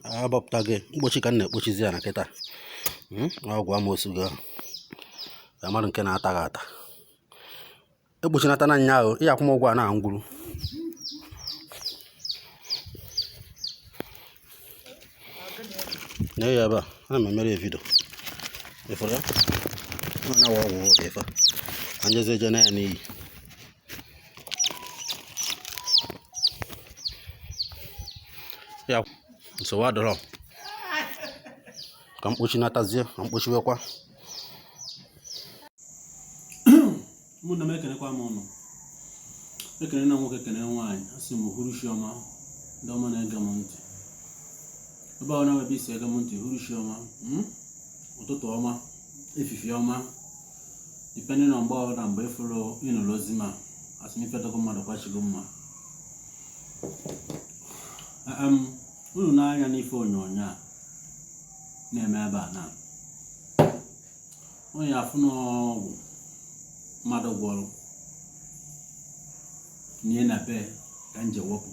abọpụta gị mkpochi ka m na-ekpochizi ya na kịta hmm? ọgwụ amosu gị ahụ ya mmadụ nke na-ata gị ata ekpochinata na nya ahụ ihe akwụmụgwọ a na-angwuru na ya ebe a ana m emere vidio ị fụrụ n'anya nwa ọgwụ ụdị ife anjezie je na ya n'iyi ya nsogbu adịrọ ka m kpochinatazie ka m kpochiwekwa ụmụnne m ekenekwa m ụnụ ekene m nwoke kene nwaanyị asị m uhuruchi ọma ndị ọma na-ege m ntị ebe ọbụna i si ege m ntị uhuruchi ọma hmm? ụtụtụ ọma efifi ọma depending on mgbe ọbụla mgbe ị fụrụ ị nụrụ ozi m a asị m ife dị gị mma dịkwa chi gị mma Em, unu nee anya n'ife onyonyo a na-eme ebe a na unu ya-afụ na ọgwụ mmadụ gwọrọ nie na be ya ka m je wepụ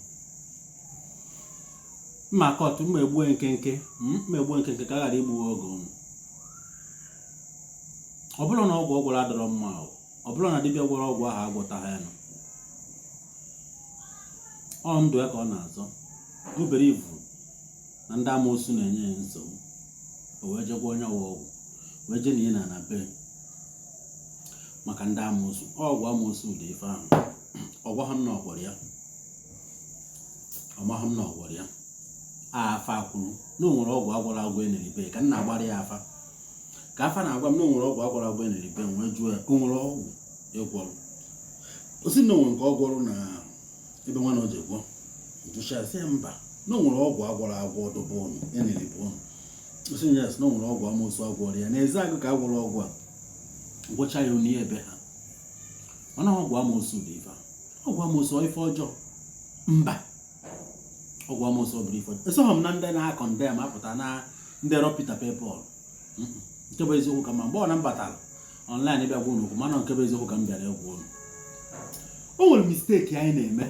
m akọtụ m egbue nkenke mm, m egbue nkenke ka a ghara igbuwe oge unu ọ bụrụ na ọgwụ ọ gwọrọ adịrọ mma ahụ ọ bụrụ na dibịa gwọrọ ọgwụ ahụ agwọtaghị ya na ọ ndụ ya ka ọ na-azọ obere ivu na ndị amoosu na-enye ya nsogbu o wee je gwọ onye ọwa ọgwụ wee jee nie ya na be maka ndị amoosu ọgwụ amoosu dị ife ahụ ọ gwaha m na ọ gwọrọ ya amaghị m na ọ gwọrọ ya afa kwuru na o nwere ọgwụ a gwọrọ agwọ e niri be ya ka m na-agbara ya afa ka afa na-agwa m na o nwere ọgwụ a gwọrọ agwọ nie be ya wee jụọ ya o nwere ọgwụ ị gwọrọ ọ sị na o nwere nke ọ gwọrọ na ebe nwa na o je gwọ jụchaa sị ya mba na o nwere ọgwụ a gwọrọ agwọ dị be ụnụ e niri be ụnụ ọ sị ya sị na o nwere ọgwụ amoosu a gwọrọ ya na Ezeagụ ka a gwọrọ ọgwụ a gwọcha ya o nie be ha ọ na ọgwụ amoosu dị ife ọgwụ amoosu ife ọjọọ mba ọgwụ amoosu abụrọ ife ọjọọ esoghị m na ndị na-acondemn apụta na ndị rob Peter pay Paul nke bụ eziokwu ka m mgbe ọbụna m batara online bịa gwa unu mana nke bụ eziokwu ka m bịara ịgwa unu o nwere mistake anyị na-eme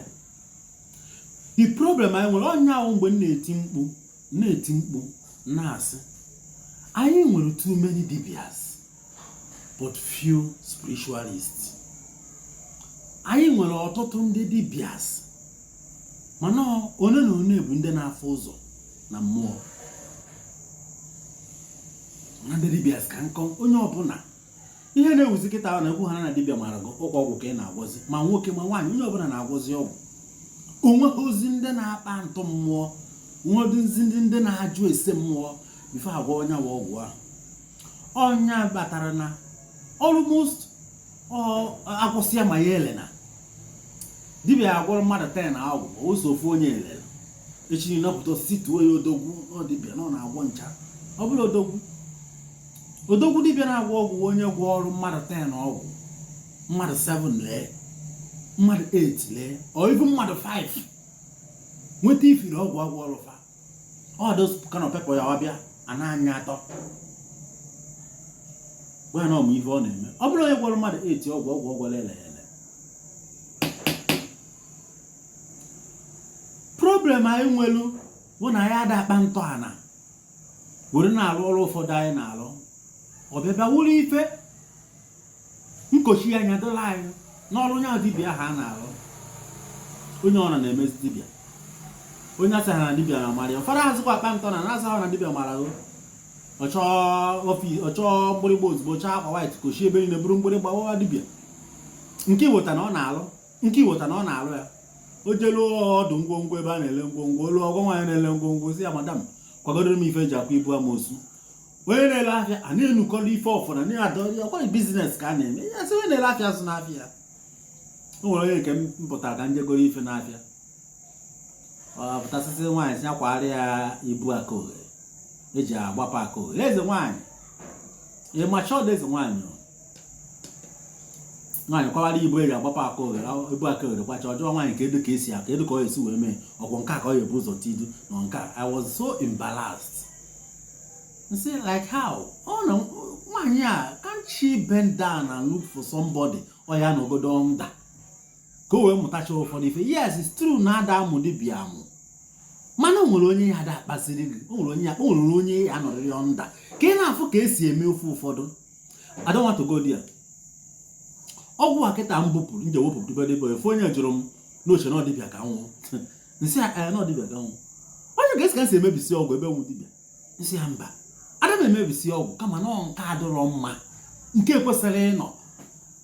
the problem anyị nwere onye ahụ mgbe m na-eti mkpu na-eti mkpu na-asị anyị nwere too many dibias but few spiritualists anyị nwere ọtụtụ ndị dibias mana one na one bụ ndị na-afụ ụzọ na mmụọ na ndị dibias ka nkọ onye ọbụla ihe na-ewuzi kịta na egwu ha na dibia mara gị ụkwa ọgwụ ka ị na-agwọzi ma nwoke ma nwaanyị onye ọbụla na-agwọzi ọgwụ o nwehozi ndị na-akpa ntụ mmụọ nwedozi ndị ndị na-ajụ ese mmụọ before agwa onye nwe ọgwụ ahụ ọ ya kpatara na almost akwụsị ya ma ya elena dibịa agwọrọ mmadụ ten ọgwụ sọ ofu onye elele echi niile ọ pụta sị tuo ya odogwu na dibịa na ọ na-agwọ ncha ọ bụla odogwu odogwu dibịa na-agwọ ọgwụ onye gwọọrụ mmadụ ten ọgwụ mmadụ 7 lee mmadụ 8 lee or even mmadụ 5 nweta ifiri ọgwụ a gwọọrụ fa all those kind of people ya ọbịa a na-anya atọ gwa na ọ ma ife ọ na-eme ọ bụrụ onye gwọrọ mmadụ eighty ọgwụ ọgwụ ọgwụ lele ele problem anyị nwelu bụ na anyị ada akpa ntọala were na-alụ ọlụ ụfọdụ anyị na-alụ ọbịa bịa wụrụ ife nkochi anya dịla anyị n'ọrụ onye ahụ dibịa ahụ a na-arụ onye ọra na-emezi dibịa onye asaghị na dibịa na amarị ụfọdụ azụkwa akpa ntọana na-asaghị na dibịa mara o ọ chọọ mgbịrịgba ozugbo chọọ akwa white kochi ebe niile bụrụ mgbịrịgba wawa dibịa nke iweta na ọ na-alụ nke iweta na ọ na-alụ ya o jelu ọdụ ngwongwo ebe a na-ele ngwongwo o lu ọ gwa nwaanyị na-ele ngwongwo si ya madam kwagodoro m ife eji akwa ibu amosu onye na-ele afịa a na-enukọrọ ife ọ fụ na na adọrị ọkwaghị business ka a na-eme ya sị onye na-ele afịa azụ n'afịa o nwere onye nke m pụtara ka m je goro ife n'afịa ọ pụtasịsị nwaanyị si akwagharị ya ibu akaogheri eji agbapụ akaogheri eze nwaanyị ịmacha ọdụ eze nwaanyị nwaanyị kwawara ibu eji agbapụ akaogheri ibu akaogheri kwacha ọ jụọ nwaanyị kedu ka esi a kedu ka o si wee mee ọ kwa nke a ka ọ ya ebu ụzọ tidu na nke a i was so embarrassed m sị like how ọ na nwaanyị a can't she bend down and look for somebody ọ ya nọgodo under ka o wee mụtacha ụfọdụ ife yes it's true na ada amụ dibịa amụ mana o nwere onye ya ada akuziri gị o nwere onye ya o nwere onye ya nọrịrị under ka ị na-afụ ka esi eme ife ụfọdụ I don't want to go there ọgwụ a kịta m bupụrụ m je wepụ dobere ebe efe onye jụrụ m na o che na ọ dibịa ka m wụ m sị ya eh, na ọ dibịa ka m wụ onye ga-esi ka esi emebisi ọgwụ ebe m wụ dibịa m sị ya mba ada m emebisi ọgwụ kama na nke adịrọ mma nke kwesịrị ịnọ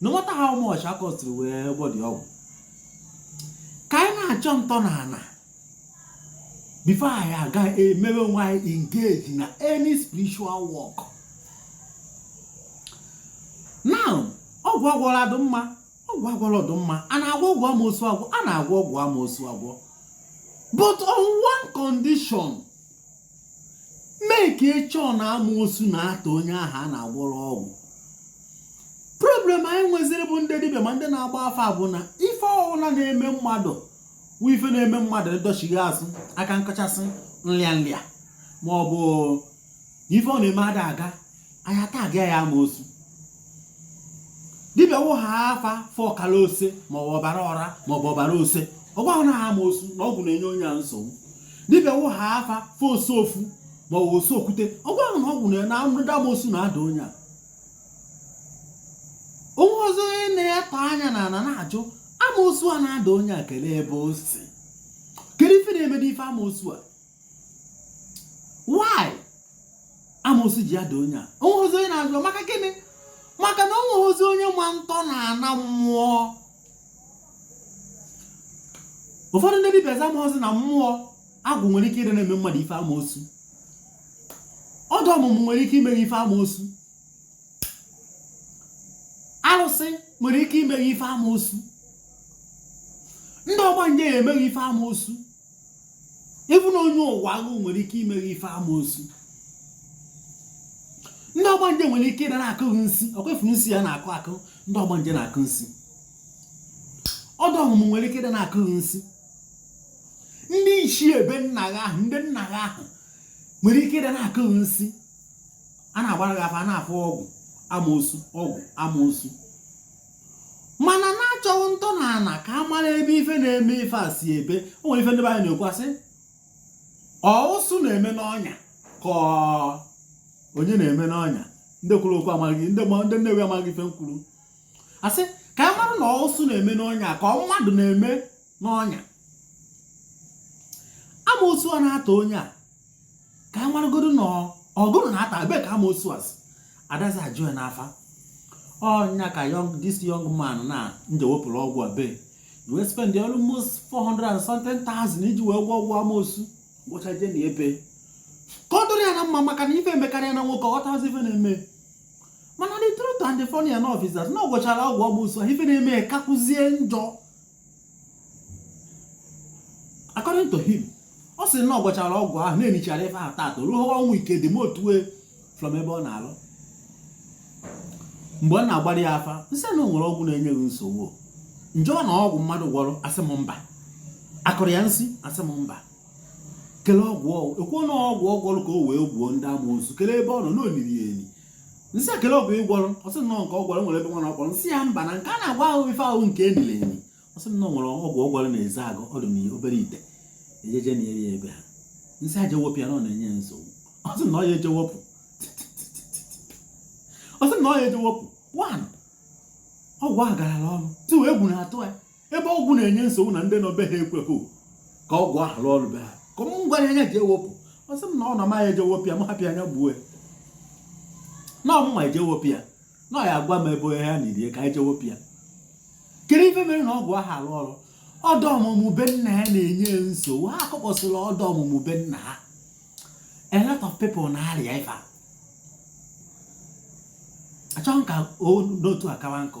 no matter how much a kọstụrụ wee gwọ the ọgwụ ka anyị na-achọ ntọ na ana before anyị aga emewe onwe anyị engage na any spiritual work now ọgwụ agwọla dị mma ọgwụ agwọla ọ dụ mma a na-agwọ ọgwụ amoosu agwọ a na-agwọ ọgwụ amoosu agwọ but on one condition make sure na amoosu na-ata onye ahụ a na-agwọrọ ọgwụ problem anyị nweziri bụ ndị dibịa ma ndị na-agba afa bụ na ife ọwụla na-eme mmadụ wụ ife na-eme mmadụ ndọchigha azụ aka nkachasị nlịa nlịa ma ọ bụ ife ọ na-eme ada aga anyị atagịa ya amoosu dibịa wụha afa fụ ọkara ose maọbụ ọbara ọra maọbụ ọbara ose ọ gwa hụ na ha amoosu na ọgwụ na-enye onye a nsogbu dibịa wụha afa fụ ose ofu maọbụ ose ogute ọ gwa hụ na ọgwụ na ndị amoosu na-ata onye a onweghịzi onye na-atọ anya na ana na-ajụ amoosu a na-ata onye a kelee ebe o si kedu ife na-emedị ife amoosu a why amoosu ji ata onye a onweghịzi onye na-ajụ maka gịnị maka na onweghịzi onye ma ntọ na ana mmụọ ụfọdụ ndị dibịas amaghịzi na mmụọ agwụ nwere ike ịdị na-eme mmadụ ife amoosu ọda ọmụmụ nwere ike ime ife amoosu arụsị nwere ike ime ife amoosu ndị ọgbanje ya eme gị ife amoosu even onye ụwa ahụ nwere ike ime gị ife amoosu ndị ọgbanje nwere ike ịda na-akụ gị nsi ọkwa ị fụrụ nsi a na-akụ akụ ndị ọgbanje na-akụ nsi ọda ọmụmụ nwere ike ịda na-akụ gị nsi ndị ichie be nna gị ahụ ndị nna gị ahụ nwere ike ịda na-akụ gị nsi a na-agbara gị afa a na-afụ ọgwụ amoosu ọgwụ amoosu mana na-achọghị ntọ na ana ka a mara ebe ife na-eme ife a si ebe o nwere ife ndị be anyị na-ekwu a sị ọ wụ ụsụ na-eme n'ọnya ka ọ onye na-eme n'ọnya ndị kwuru okwu amaghị ndị nnewi amaghị ife m kwuru a sị ka a mara na ọ wụ ụsụ na-eme n'ọnya ka ọ mmadụ na-eme n'ọnya amoosu a na-ata onye a ka a maragodu na ọ wụrụ na ata ebe ka amoosu a si adazi ajụ ya n'afa ọ ya ka young this young man na nje wepụrụ ọgwụ a be ya wee spend almost 400 and something thousand iji wee gwọ ọgwụ amoosu gwọchaa chee na ebe ka ọ dụrụ ya na mma maka na ife emekarịana nwoke ọ ghọtazi ife na-eme mana the truth and the funny enough is that na ọ gwọchara ọgwụ amoosu ife na-eme kakwuzie njọ according to him ọ sị na ọ gwọchara ọgwụ ahụ na-enichara ife ha taata ruo ọnwụ ike dị m otu e from ebe ọ na-alụ mgbe m na-agbara ya afa m sị na o nwere ọgwụ na-enye gị nsogbu njọ na ọgwụ mmadụ gwọrọ asị m mba akọrọ ya nsi asị m mba kelee ọgwụ ọgwụ ekwuo na ọgwụ ọ gwọrọ ka o wee gbuo ndị amoosu kelee ebe ọ nọ na o lili eli m sị ya kelee ọgwụ ị gwọrọ ọ sị na nke ọ gwọrọ nwere ebe nwa na ọ kpọrọ m sị ya mba na nke a na-agwa ahụ ife ahụ nke enili eni ọ sị na o nwere ọgwụ ọ gwọrọ na ezeagụ ọ dị na obere ite e jeje nie be ha m sị ya je wepụ ya na ọ na-enye nsogbu ọ sị na ọ ya eje wepụ ọ sị na ọ ya eje wepụ wan ọgwụ ahụ garala ọrụ tu egwu na-atụ ya ebe ọgwụ na-enye nsogbu na ndị nọ be ha ekweghị ka ọgwụ ahụ rụọ ọrụ be ha ka m gwara ya je wepụ ọ sị m na ọ na maghị eje wepụ ya m hapụ anya gbuo ya na ọ ma eje wepụ ya na ọ ya agwa m ebe onye ha niri ya ka eje wepụ ya kedu ife mere na ọgwụ ahụ arụ ọrụ ọdọ ọmụmụ be nna ya na-enye ya nsogbu ha akọkpọsịrị ọdọ ọmụmụ be nna ha a lot of people na-arịa ife a achọghị ka o n'otu akawa nkụ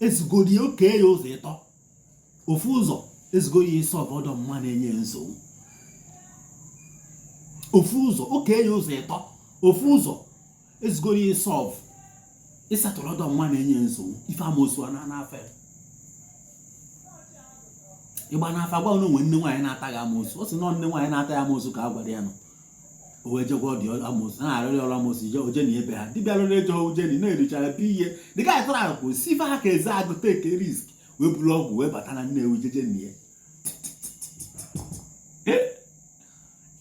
ezugodi ya o kee ya ụzọ ịtọ ofu ụzọ ezugo ya ịsolve ọdọ nwa na-enye nsogbu ofu ụzọ o kee ya ụzọ ịtọ ofu ụzọ ezugo ya ịsolve ịsettle ọdọ nwa na-enye nsogbu ife amosu a na n'afọ ya ịgba n'afa bụ na o nwe nne nwaanyị na-ata gị amosu ọ sị na ọ nne nwaanyị na-ata ya amosu ka a gwara ya nọ o wee jekwa ọdị amosu ha arịrị ọrụ amosu je ojeni ebe ha dibịa rụrụ eje ojeni na-erichara bi ihe dịka anyị tụrụ akwụ si fa ha ka ezeagụ take risk wee buru ọgwụ wee bata na nnewi jeje nie ya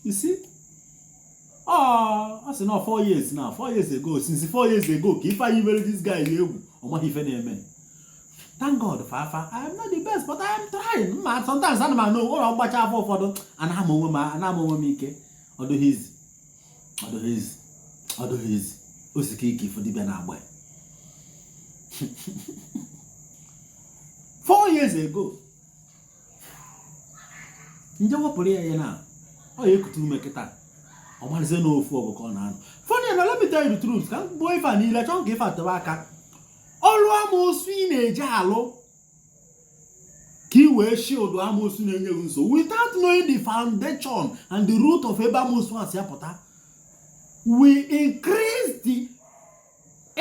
isi ọ sị na ọ four years na four years ago since four years ago ka ife anyị mere this guy ya egwu ọ maghị ife na-eme thank god for afa i am not the best but i am trying ma sometimes ana m anụ ụlọ m gbachaa afa ụfọdụ ana m onwe m ana m onwe m ike ọ dịghị easy ọ dịghị easy ọ dịghị easy o siri ike ife dibịa na-agba four years ago m je wepụrụ ya ya na ọ ya ekute ume kịta ọ marịzie na ofu ọgwụ ka ọ na-anọ fọdụ ya na let me tell you the truth ka m gbuo ife a niile chọọ ka ife atebe aka ọrụ amoosu ị na-eje alụ ka ị wee shie ụdụ amoosu na-enye gị nsogbu without knowing the foundation and the root of ebe amoosu a si apụta will increase the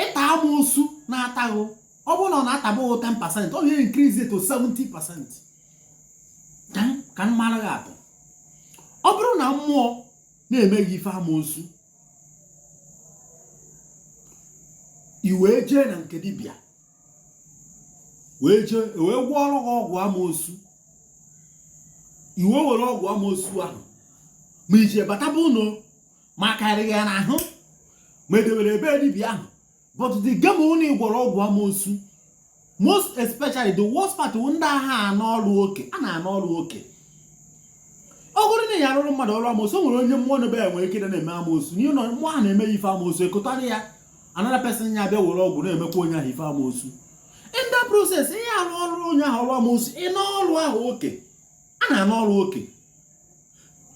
ịta amoosu na-ata gị ọ bụrụ na ọ na-atabu 10 percent ọ ga-increase to 70 percent ka m mara gị atụ ọ bụrụ na mmụọ na-eme gị ife amoosu i wee jee na nke dibịa wee jee e wee gwọọrọ gị ọgwụ amoosu i wee were ọgwụ amoosu ahụ ma i ji bataba ụnọ ma a kara gị ya n'ahụ ma e debere be dibịa ahụ but the game unu ị gwọrọ ọgwụ amosu most especially the worst part bụ ndị anaghị ana ọrụ oke a na-ana ọrụ oke ọ bụrụ na ị ya-arụrụ mmadụ ọrụ amosu o nwere onye mmụọ n'ebe ya nwere ike na-eme amosu n'ihi na mmụọ ahụ na-eme ya ife amosu ekụtara ya another person ya abịa were ọgwụ na-emekwa onye ahụ ife amosu in that process ị ya-arụrụ onye ahụ ọrụ amosu ị na ọrụ ahụ oke a na-ana ọrụ oke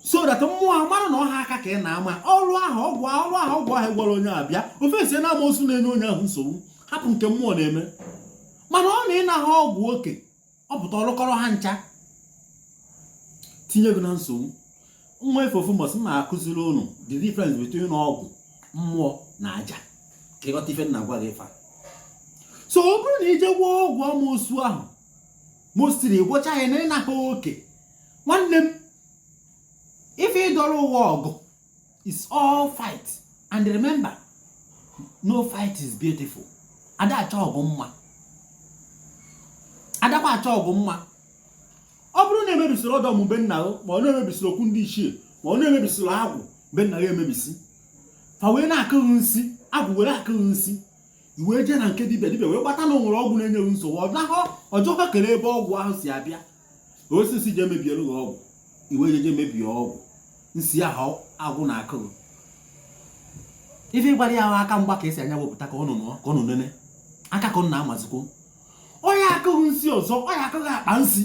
so that mmụọ mara na ọha aka ka ị na-ama ọrụ ahụ ọgwụ ọrụ ahụ ọgwụ ahụ gwara onye ọbịa ofe esi na amoosu na-enye onye ahụ nsogbu hapụ nke mmụọ na-eme mana ọ na ị naghị ọgwụ oke ọ pụta ọ lụkọrọ ha ncha tinye gị na nsogbu nwa efe ofu mbọsị m ga-akụziri unu the difference between ọgwụ mmụọ na aja ka ị ghọta ife m na-agwa gị fa so ọ bụrụ na i jee gwọọ ọgwụ amoosu ahụ mostiri gwọcha ya na ị naghị oke nwanne m ife ị dọrọ wụ ọgụ is all fight and remember no fight is beautiful ada achọ ọgụ mma adakwa achọ ọgụ mma ọ bụrụ na i mebisiri ọdọ mmụọ be nna gị ma ọ na i mebisiri okwu ndị ichie ma ọ na i mebisiri agwụ be nna gị emebisi fa wee na-akụ gị nsi agwụ were akụ gị nsi i wee jee na nke dibịa dibịa wee gbata na o nwere ọgwụ na-enye gị nsogbu ọ dahọ ajụ kele ebe ọgwụ ahụ si abịa ka osisi ji emebielu gị ọgwụ i wee jee mebie ọgwụ nsi ahụ agwụ na-akụ gị ife ị gbara ya ahụ aka mgba ka esi anya wepụta ka ọ nọ ka ọ nọ nene aka ka ọ na-amazikwo ọ ya-akụ gị nsi ọzọ ọ ya-akụ gị akpa nsi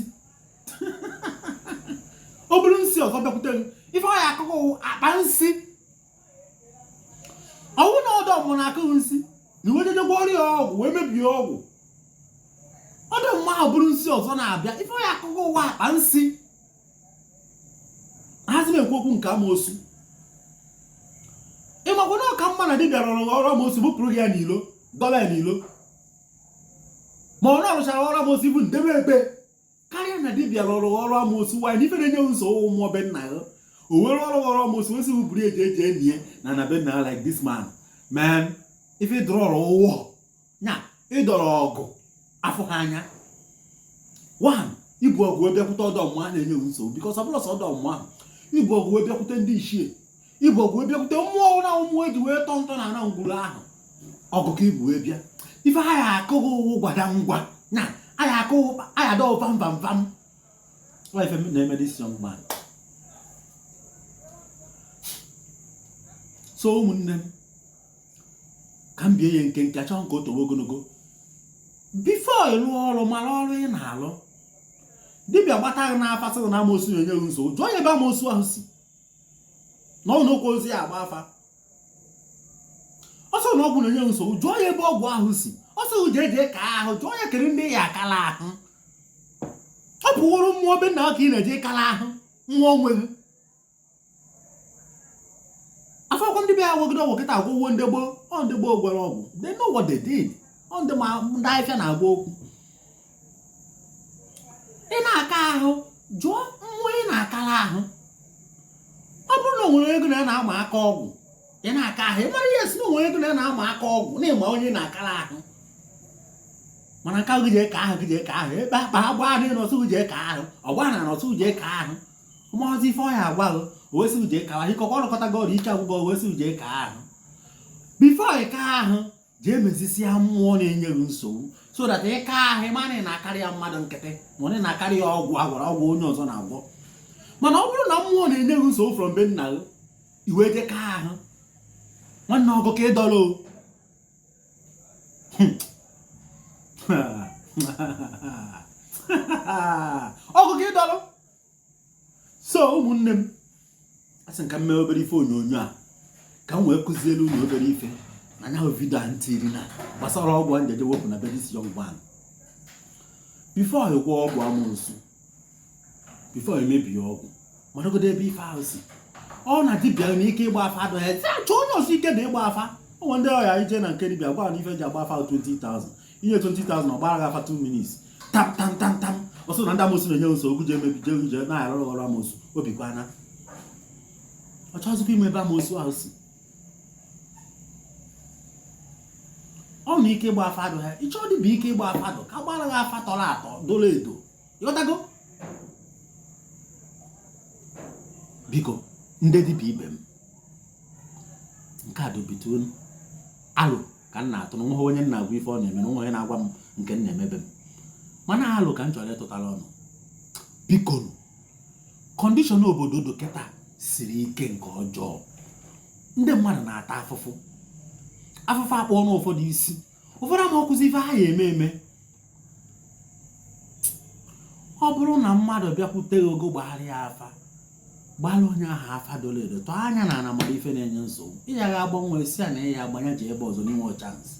ọ bụrụ nsi ọzọ bịakwute m ife ọ ya-akụ gị akpa nsi ọ wụ na ọdọ mmụọ na-akụ gị nsị na i wee jedekwa rụọ ọgwụ wee mebie ọgwụ ọdọ mmụọ ahụ bụrụ nsị ọzọ na-abịa ife ya-akụ gị wụ akpa nsị hazi na-ekwu okwu nke amoosu ị makwa na ọ ka mma na dibịa rụrụ gị ọrụ amoosu bupụrụ gị ya n'ilo dọla ya n'ilo ma ọ na a rụchara ọrụ amoosu i buru debe ebe karịa na dibịa rụrụ ọrụ amoosu nwaanyị na ife na-enye nsogbu wụ mmụọ be nna ya o wee rụọ ọrụ amoosu wee si wuburu eji eji enyi ya na na be nna ya like this man man ife ị dọrọ wụ ọnya ị dọrọ ọgụ afọ ha anya one i bu ọgụ wee bịakwute ọdọ mmụọ a na-enye nsogbu because ọ bụrọ sọ ọdọ mmụọ ahụ i bu ọgụ wee bịakwute ndị ichie ị were ọgwụ wee bịakwute mmụọ ụra mmụọ eji wee tọ ntọ na ana ngwuru ahụ ọgwụ gị ị ji wee bịa ife anyị akụghị ụwụ gwada ngwa na anyị akụghị anyị adọghị vam vam vam ife na-eme this young man so ụmụnne m ka m bie ya nke nke achọghị m ka o towe ogologo before ị lụọ ọrụ mara ọrụ ị na-alụ dibịa gbata gị n'afa sị na amosu na-enye gị nsogbu jụọ ya ebe amosu ahụ si na ọnụokwu ozi ya agba afa ọ sị na ọgwụ na-enye nsogbu jụọ ya ebe ọgwụ ahụ si ọ sị gị jee ka ahụ jụọ ya kedu ndị ị ya-akala ahụ ọ bụrụ mmụọ be nna ka ị na-eje kala ahụ nwa onwe gị afọkwa ndị be ya wegide ọgwụ kịta agwụwo ndị gboo ọ ndị gboo gwọrọ ọgwụ they know what they did ọ ndị ma ndị ahịfịa na-agwa okwu ị na-aka ahụ jụọ mmụọ ị na-akala ahụ ọ bụrụ na o nwere onye gị na ya na-ama aka ọgwụ ị na-aka ahụ ị mara ihe sị na o nwere onye gị na ya na-ama aka ọgwụ na ị ma onye ị na-akala ahụ mana aka gị jee ka ahụ gị jee ka ahụ ebe akpa ha gbaa na ọ sị gị jee ka ahụ ọ gbaa na ọ sị gị jee ka ahụ ọ mazị ife ọ ya-agwa gị wee sị gị jee ka ahụ ikekwe ọ rụkata gị ọrụ ike agwụ ya ọ wee sị gị jee ka ahụ before ị ka ahụ jee mezisia mmụọ na-enye gị nsogbu so that ị ka ahụ ị ma na ị na-akara ya mmadụ nkịtị ma ọ na-akara ya ọgwụ a gwọrọ ọgwụ onye ọzọ na-agwọ mana ọ bụrụ na mmụọ na-enye gị nsogbu from be nna gị ị wee jee ka ahụ nwanne ọgụ ka ịdọla o hmm. ọgụ ka ịdọla so ụmụnne m asị m ka m mee obere ife onyonyo a ka m wee kụziere unu obere ife na anya hụ video a ntị iri na gbasara ọgwụ a njeje wepụ na be this young man before ị gwọọ ọgwụ amosu before ị mebe ọgwụ maragodu ebe ife ahụ si ọ na dibịa na ike ịgba afa adịghị chọọ onye ọzọ ike na ịgba afa o nwe ndị ọ ya ị jee na nke dibịa gwa na ife ji agba afa 20,000 i nye 20,000 ọ gbara gị afa 2 minutes tam tam tam tam ọ sị na ndị amosu na-enye nsogbu ji emebi je je na-arụ ọrụ amosu ọ bụkwa na ọ chọghịzikwa ịma ebe amosu ahụ si ọ na ike ịgba afa adụghị ya ị chọọ dibịa ike ịgba afa dụ ka ọ gbara gị afa tọrọ atọ dolo edo ị ghọtago biko ndị dibịa ibe m nke a ọ bụ ịtụ alo ka m na-atụ na nweghị onye m na-agwa ife ọ na-eme na nweghị onye na-agwa m nke m na-eme be m mana alo ka m chọrọ ịtụtara unu biko condition obodo dụ kịta siri ike nke ọjọọ ndị mmadụ na-ata afụfụ afụfụ akpọọ ụfọdụ isi ụfọdụ amakwụzi ife ha ya-eme eme ọ bụrụ na mmadụ bịakwute gị ogo gbara ya afa gbara onye ahụ afa doro edo tọọ anya n'ana mara ife na-enye nsogbu ị ya ga-agbanwe si ya na ị ya agbanya ji ebe ọzọ na i nweghị chance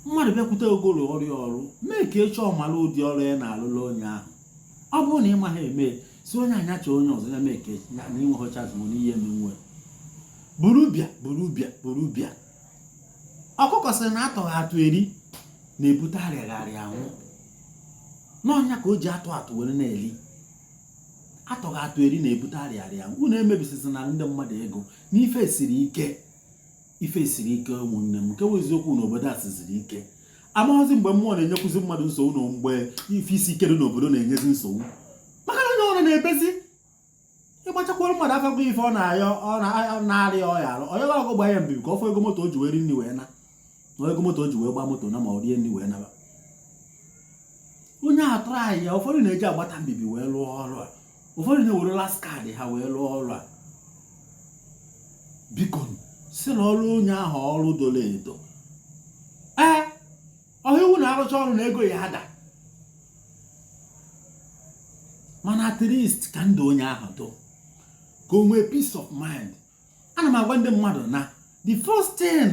mmadụ bịakwute ogolo ọrịa ọrụ make sure ị mara ụdị ọrụ ị ya alụrụ onye ahụ ọ bụrụ na ị maghị eme sị onye ahụ ya chọọ onye ọzọ ya mee ka na i nweghị chance ma n'ihe na nwe buru bịa buru bịa buru bịa ọkụkọ sị na atụghị atụ eri na-ebute arịaghị arịa anwụ na ọ ya ka o ji atụ atụ were na-eli atụghị atụ eri na-ebute arịaghị arịa anwụ unu emebisizina ndị mmadụ ego na ife siri ike ife siri ike ụmụnne m nke eziokwu na obodo a siziri ike amaghịzi mgbe mmụọ na-enyekwuzi mmadụ nsogbu na mgbe ife isi ike dị n'obodo na-enyezi nsogbu maka na onye ọrụ na-ebezi ị gbachakwara mmadụ afa gị ife ọ na-ayọ ọ na-arị ọ ya arụ onye ọgụ gba ya mbibi ka ọ fọ ego moto o ji wee ri nri wee na na ego moto o ji wee gba moto na ma ọ rie nri wee naba onye a tụrụ anya ya ụfọdụ na-eji agbata mbibi wee lụọ ọrụ a ụfọdụ na-ewere last card ha wee lụọ ọrụ a biko see na ị rụrụ onye ahụ ọrụ doro edo ọ bụghị iwu na a rụchaa ọrụ na ego ya ada mana at least ka ndụ onye ahụ dụ ka o nwee peace of mind ana m agwa ndị mmadụ na the first thing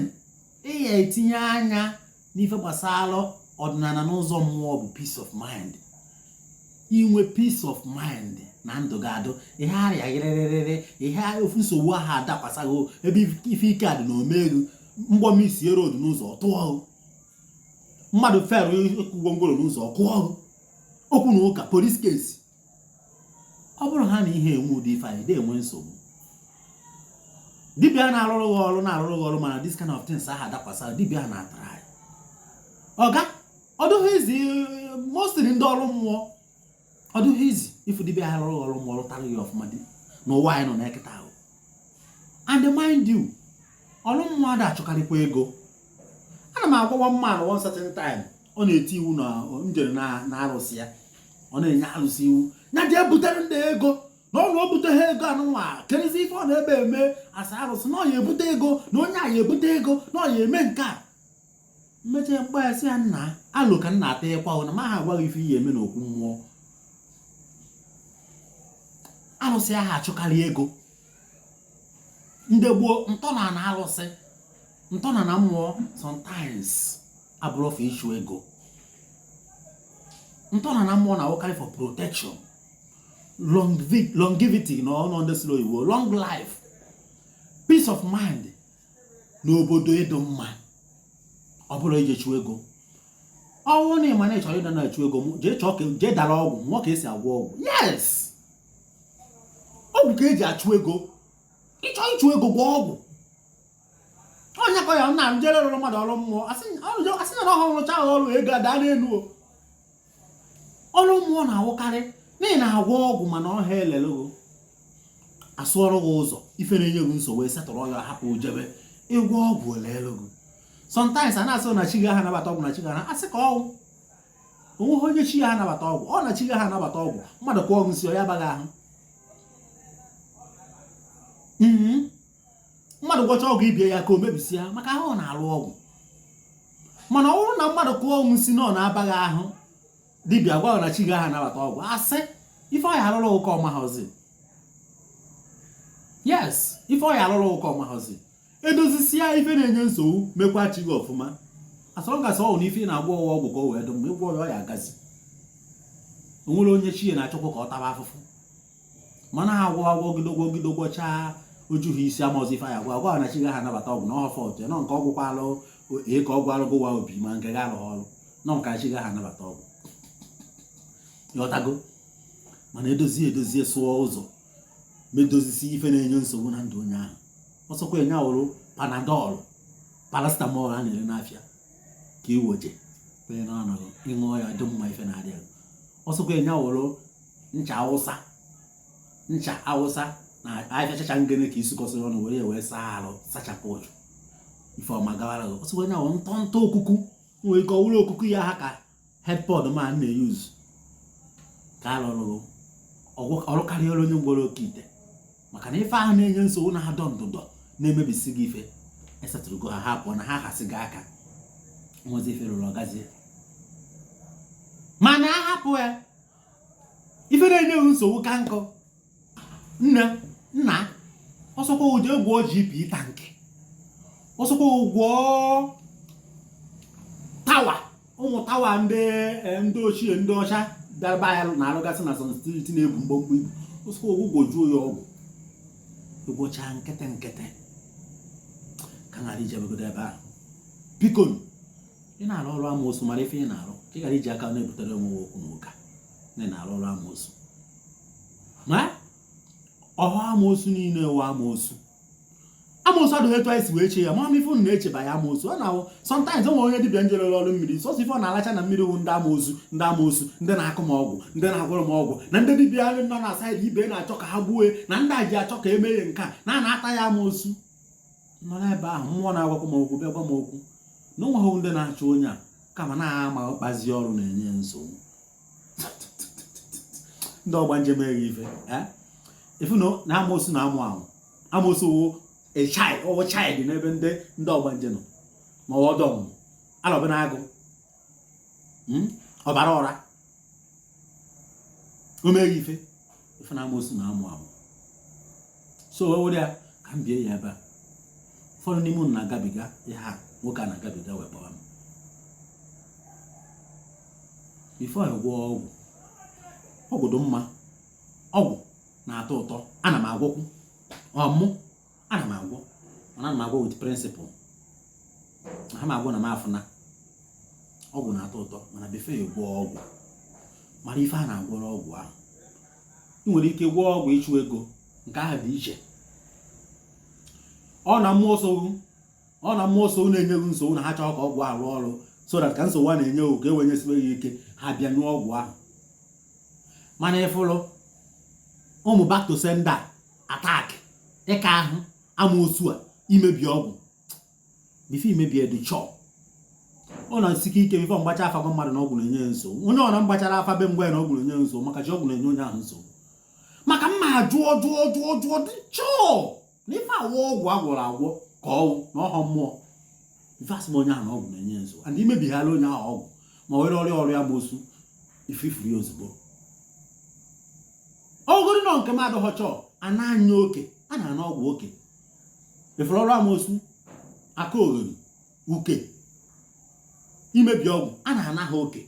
ị ya etinye anya n'ife gbasara ọdịnala na ụzọ mmụọ bụ peace of mind inwe peace of mind na ndụ ga-adụ ị ha arịa gịrịrịrịrị ihe ofu nsogbu aha adakwasa gị ebe ife ike adị na o mee gị mgbọ miss road n'ụzọ tụọ mmadụ fere ịkụ gwongworo n'ụzọ ọkụ ọrụ okwu na ụka police case ọ bụrụ ha na ihe enwe ụdị ife anyị dị enwe nsogbu dibịa na-arụrụ gị ọrụ na-arụrụ gị ọrụ mana this kind of things aha dakwasara dibịa na-atry ọga ọ dụghị easy mostly ndị ọrụ mmụọ ọ dịghị easy ifu dibịa ha rụrụ ọrụ mmụọ rụtara ya ọfụma dị n'ụwa anyị nọ na ya kịtaa and mind you ọrụ mmụọ ada achụkarịkwa ego ana m agwawa mma na one certain time ọ na-eti iwu na njere na arụsị ya ọ na-enye arụsị iwu na jee butere ndị ego na ọrụ o bute ha ego anụnwa kerezi ife ọ na-ebe eme asị arụsị na ọ ya ebute ego na onye a ya ebute ego na ọ ya eme nke a m mechaa m kpọọ ya sị ya nna alo ka m na-atụkwa na m aha agwa gị ife ị ya eme n'okwu mmụọ alụsị aha achụkarị ego ndị gboo ntọnana alụsị ntọnana mmụọ sometimes abụrọ for ịchụ ego ntọnana mmụọ na-awụkarị for protection longevity na ọnụ ndị sịrị oyibo long life peace of mind n'obodo ịdụ mma ọ bụla i je chụọ ego ọ wụrụ na ị ma na ị chọrọ ịdị na-achụ ego jee chọọ ka jee dara ọgwụ mara ka esi agwọ ọgwụ yes ọgwụ ka eji achụ ego ị chọọ ịchụ ego gwọọ ọgwụ onye ka ya na njere rụrụ mmadụ ọrụ mmụọ asị na ọhụrụ rụcha ọrụ ego ada n'elu ọrụ mmụọ na-awụkarị na ị na-agwọ ọgwụ mana ọha elele o asụọrọ gị ụzọ ife na-enye gị nsogbu esetụrụ ya hapụ jebe ịgwọ ọgwụ elele gị sometimes a na-asị na chi gị aha anabata ọgwụ na chi gị aha asị ka ọgwụ onweghị onye chi ya anabata ọgwụ ọ na chi gị aha anabata ọgwụ mmadụ kụọ ọgwụ nsị ọ ya-aba gị ahụ mm-hmm. mmadụ gwọcha ọgwụ ibie ya ka o mebisia maka ahụ na-alụ ọgwụ mana ọ bụrụ na mmadụ kụọ ọgwụ nsị na ọ na-aba gị ahụ dibịa agwa gị na chi gị aha anabata ọgwụ asị ife ọya alụrụ ụka ọmahazi yes ife ọya alụrụ ụka ọmahazi edozisia ife na-enye nsogbu mekwa chi gị ọfụma asọrọgasị ọgwụ na ife na-agwọ ọwa ọgwụ ka o wee dị mgbe ị gwọ ya ọ ya-agazi onwere onye chi ya na-achọkwa ka ọ taba afụfụ mana ha agwọ agwọ gidogwọ gidogwọ chaa o ju ha isi ama ọzọ ife a ya-agwa agwa na chi ha anabata ọgwụ na ọhọfọ otu ya nọ nke ọgwụ kwalụ ee ka ọgwụ alụgụ wa obi ma nke ga-alụ ọrụ nọ nke chi ha anabata ọgwụ ịghọtago mana edozie edozie sụọ ụzọ medozisie ife na-enye nsogbu na ndụ onye ahụ ọsọkwa nya wụrụ Panadol paracetamol a na-ere n'afịa ka iwoje kwenye n'ọnụ ị ṅụọ ya dị mma ife na-adịghị ọsọkwa nya wụrụ ncha awụsa ncha awụsa na ahịchachacha ngene ka isi gọsịrị ọnụ were wee saa arụ sachapụ uchu ife ọma gawara gị ọsị onye ahụ ntọ ntọ okuku nwere ike ọ wụrụ okuku ya ha ka hedpọd ma na-eyuzu ka alụrụ ọrụ karịa onye gwọrọ oke ite maka na ife ahụ na-enye nsogbu na-adọ ndụdọ na-emebisi gị ife esetụrụgo ha ha pụọ na ha hasị gị aka nwezi ife ị rụrụ ọ gazie mana ahapụ ya ife na-enye gị nsogbu ka nkụ nne nna ọsọkwa gị gwọọ GP tank ọsọkwa gị gwọọ tower ụmụ tower ndị eh, ndị ochie ndị ọcha bịaraba ya na-arụgasị na Sun City na-ebu mgbomgbo ibu ọsọkwa gị gwọjuo ya ọgwụ ọ wụcha nkịtị nkịtị ka a ghara ijebegodo ebe ahụ biko ị na-arụ ọrụ amoosu mara ife ị na-arụ ka ị ghara iji aka na-ebutere onwe okwu na ụka na ị na-arụ ọrụ amoosu ma ọ wụghị amoosu niile wụ amoosu amoosu adịghị etu anyị si wee chee ya ma ife unu na-echeba ya amoosu ọ na-awụ sometimes o nwere onye dibịa njere ọrụ mmiri sọsọ ife ọ na-alacha na mmiri wụ ndị amoosu ndị amoosu ndị na-akụ m ọgwụ ndị na-agwọrọ m ọgwụ na ndị dibịa nọ na saịdị ibe na-achọ ka ha gbue na ndị a ji achọ ka emeghe nke a na a na-ata ya amoosu nọ n'ebe ahụ mmụọ na-agwakwa m okwu bịa gwa m okwu na o nweghị ndị na-achọ onye a kama na-ama mkpazi ọrụ na-enye nsogbu ndị ọgbanje emeghị ife ị fụ na amoosu na-amụ amụ amoosu wụ ọ wụ child n'ebe ndị ndị ọgbanje nọ ma ọdọ alọbụ na agụ hmm? ọbara ọra o meghị ife ị fụ na amosu na-amụ amụ so o were ya ka m bie ya ebe a ụfọdụ n'ime unu na-agabiga ihe a nwoke a na-agabiga wee kpọwa m before ị ya-agwọ ọgwụ ọgwụ dị mma ọgwụ na-atọ ụtọ ana m agwọkwu ọmụ ana m agwọ mana m agwọ with principle ha m agwọ na m afụna ọgwụ na-atọ ụtọ mana before ị ya-agwọ ọgwụ mara ife a na-agwọrọ ọgwụ ahụ ị nwere ike gwọọ ọgwụ ịchụ ego nke ahụ dị iche ọ na mmụọ nsogbu ọ na mmụọ nsogbu na-enye gị nsogbu na ha chọọ ka ọgwụ ahụ rụọ ọrụ so that ka nsogbu a na-enye oge e wee nyesibe ya ike ha bịa nyụọ ọgwụ ahụ mana ị fụrụ ụmụ back to sender attack ịka ahụ amoosu a imebi ọgwụ before imebie be sure ọ na-esi ike ike ị fụ m gbachaa afa gwa mmadụ na ọgwụ na-enye nso onye ọ na m gbachara afa be mgbe na ọgwụ na-enye nso maka ji ọgwụ na-enye onye ahụ nso maka mma jụọ jụọ jụọ jụọ be sure na ife a wụ ọgwụ agwọrọ agwọ ka ọ wụ na ọhọ mmụọ before asị m onye ahụ na ọgwụ na-enye nso and imebighala onye ahụ ọgwụ ma were ọrịa ọrịa amoosu ififuru ya ozugbo ọ bụrụ na nke m adịghị sure a na-ana ya oke a na-ana ọgwụ oke ị fụrụ ọrụ amosu aka ogheri uke imebi ọgwụ a na-ana ha oke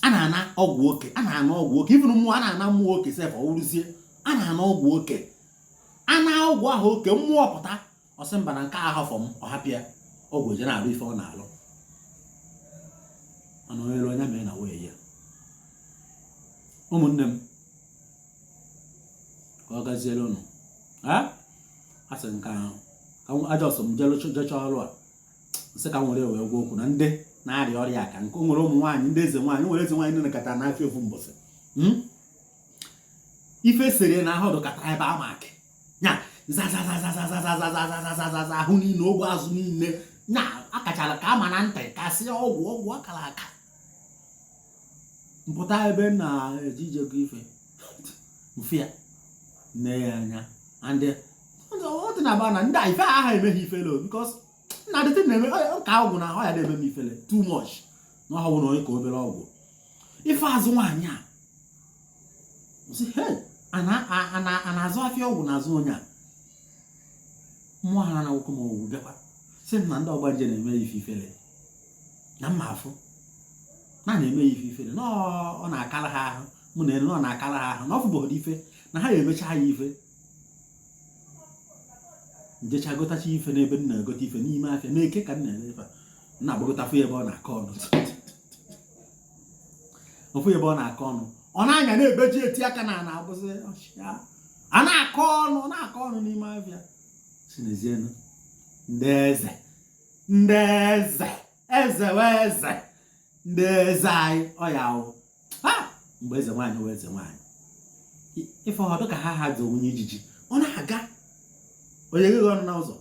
a na-ana ọgwụ oke a na-ana ọgwụ oke even mmụọ a na-ana mmụọ oke sef ọ wụrụzie a na-ana ọgwụ oke a naa ọgwụ ahụ oke mmụọ pụta ọ sị mba na nke ahụ fọm ọ hapụ ya ọgwụ eje na-arụ ife ọ na-alụ mana onye onye mee na nwunye ya ụmụnne m ka ọ gaziere unu a sị nke ahụ ka aja ọsọ m jecha ọrụ a nsị ka m were wee gwa unu na ndị na-arịa ọrịa aka nke o nwere ụmụ nwaanyị ndị eze nwaanyị nwere eze nwaanyị na-anakọta n'afịa ofu mbọsị hmm? ife sere ya n'ahụ dụkọtara ebe a maka ya zazazazazazazazazazazaza ahụ niile ogwe azụ niile na akachara ka ama na ntị kasị ọgwụ ọgwụ akara aka m pụta ebe na eji ije gị ife m fụ ya nee ya anya and ọ dị na bana ndị a ife aha emeghị ifele because na adịtị na-eme ka ọgwụ na ọ ya na-eme m ifele too much na ọhụrụ na onye ka obere ọgwụ ife azụ nwaanyị a a na-azụ afịa ọgwụ na-azụ onye a mmụọ ha na nwoke m owu bịakwa si na ndị ọgbanje na-eme ife ifele na mma afụ na na-eme ife ifele na ọ na-akara ha ahụ mụ na elu na ọ na-akara ha ahụ na ọ fụbọdụ ife na ha ga-emecha ya ife m jecha gotacha ife n'ebe m na-egote ife n'ime afịa n'Eke ka m na-ere ife a na-agbagota fụ ya ebe ọ na-akọ ọnụ ọ fụ ya ebe ọ na-akọ ọnụ ọ na-anya na-ebezi eti aka n'ana abụzi a na-akọ ọnụ na-akọ ọnụ n'ime afịa sị na zienụ ndị eze ndị eze eze wee eze ndị eze nwaanyị ọya ahụ ha mgbe eze nwaanyị wee eze nwaanyị ife ọ dụ ka ha ha dị onwunye ijiji ọ na-aga onye gheghị ọnụ n'ụzọ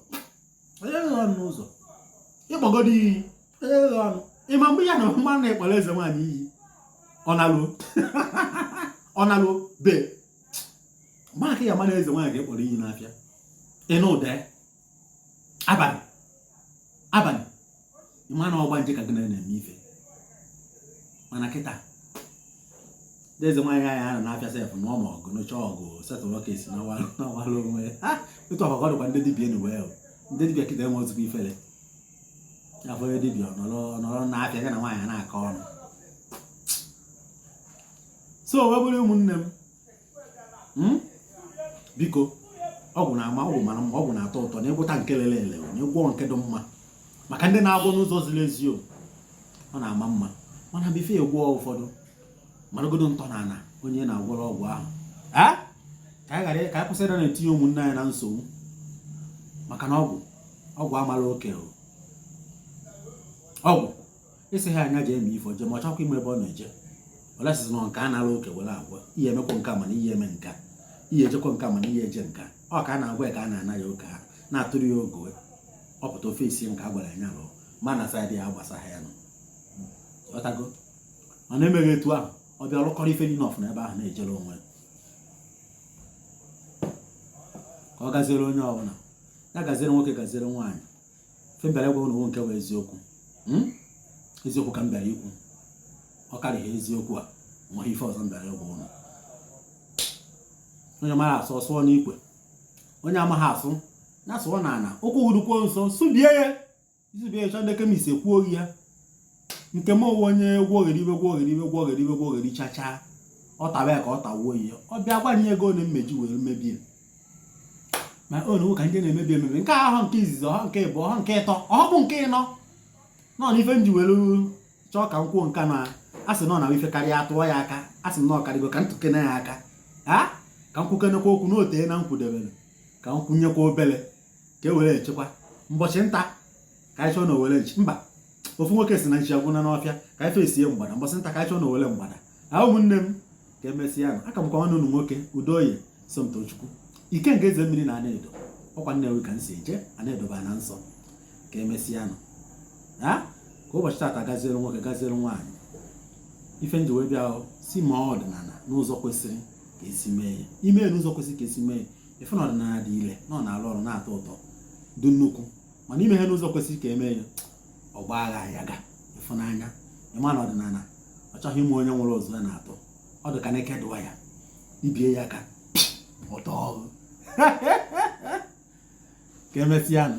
onye gheghị ọnụ n'ụzọ ị kpọgodo iyi ị ma mgbe ya na mma na ị kpọrọ eze nwaanyị iyi ọ naluo ọ naluo be maka ya mara eze nwaanyị ga-akpọrọ iyi n'afịa ị nụ ụda abalị abalị ị ma na ọgbanje ka gị na-eme ife mana kịta eze nwaanyị anyị anọ n'afịa sef na ọ ma ọgụ nụcha ọgụ settle case nawara onwe ya etu ọkọkọ dịkwa ndị dibia na wee ndị dibia kịta enwerọzikwọ ifere afụ onye dibia nọrọ n'afịa ya na nwaanyị na-akọ ọnụ so wee bụrụ ụmụnne m hmm? biko ọgwụ na-ama ọgwụ mara mma ọgwụ na-atọ ụtọ na ị gwọta nke lele ele na ị gwọ nke dị mma maka ndị na-agwọ n'ụzọ ziri ezi ọ na-ama mma mana before ị gwọ ụfọdụ maragodo ntọ ana onye ị na-agwọrọ ọgwụ ahụ ka anyị ghara ka anyị kwụsịrị na-etinye ụmụnne anyị na nsogbu maka na ọgwụ ọgwụ amarọ oke ọgwụ ị sị ya nya jee mee ife o jee mee ọ chọkwa ime ebe ọ na-eje olesizi na nke a nara oke were agwa ya emekwa nke mana ya eme nka ya ejekwa nke mana ya eje nka ọ ka a na-agwa ya ka a na-ana ya oke ha na-atụrụ ya oge ọ pụta ọ face nke a gwara ya nya mana side ya gbasaghị ya ụnụ aghọtago mana ị meghị etu ahụ ọ bịa rụkọrọ ife niile ọ fụ n'ebe ahụ na-ejere onwe ka ọ gaziere onye ọbụla ya gaziere nwoke gaziere nwaanyị ife m bịara ịgwa ụnụ nke bụ eziokwu hmm? eziokwu ka m bịara ikwu ọ karịghị eziokwu o nweghị ife ọzọ m bịara ịgwa ụnụ onye mara asụ ọ sụọ n'ikwe onye amaghị asụ nya asụọ n'ana ụkwụ hụrụkwuo nso sụbie ya izube ịchọ ndị kemis ekwuo gị ya nke m o nwe onye egwu oghere ibe gwa oghere ibe gwa oghere ibe gwa oghere chachaa ọ tawa ya ka ọ tawuo ya ọ bịa gwa nye ego ole mmeji were mebie ma ọ na-enwe ka ndị na-emebi emebi nke ahụ nke izizi ọha nke ịbụa ọha nke ịtọ ọ bụ nke ịnọ nọ na ife m ji were chọọ ka m kwuo nka na a sị na ọ na ife karịa a tụọ ya aka asị m na ọ karịgo ka m tụkene ya aka a ka m kwukenekwa okwu na o teena m kwudebere ka m kwunyekwa obere ka e were echi ka mbọchị nta ka anyị chụọ na owere nchi mba ofu nwoke sị na nchi agwụna n'ọfịa ka anyị fesie mgbada mbọchị nta ka anyị chụọ na owere mgbada a ụmụnne m ka emesịa nụ aka m ka nwanne unu nwoke udoye somtochukwu ike nke eze mmiri na anaedo ọkwa nnewi ka m si eje ana edoba na nsọ ka emesịa nụ ka ụbọchị taata gaziere nwoke gaziere nwaanyị ife m ji wee bịa sị mee ọdịnala n'ụzọ kwesịrị ka esi mee ya i mee n'ụzọ kwesịrị ka esi mee ya ị fụ na ọdịnala dị ile na ọ na-alụ ọrụ na-atọ ụtọ dị nnukwu mana i mee ihe n'ụzọ kwesịrị ka e mee ya ọgba agha ya ga ịfụnanya ị ma na ọdịnala ọ chọghị ịma onye nwere ụzọ ya na-atọ ọ dị ka n'eke dụwa ya ibie ya ka ọtọ ọrụ ka emesịa nụ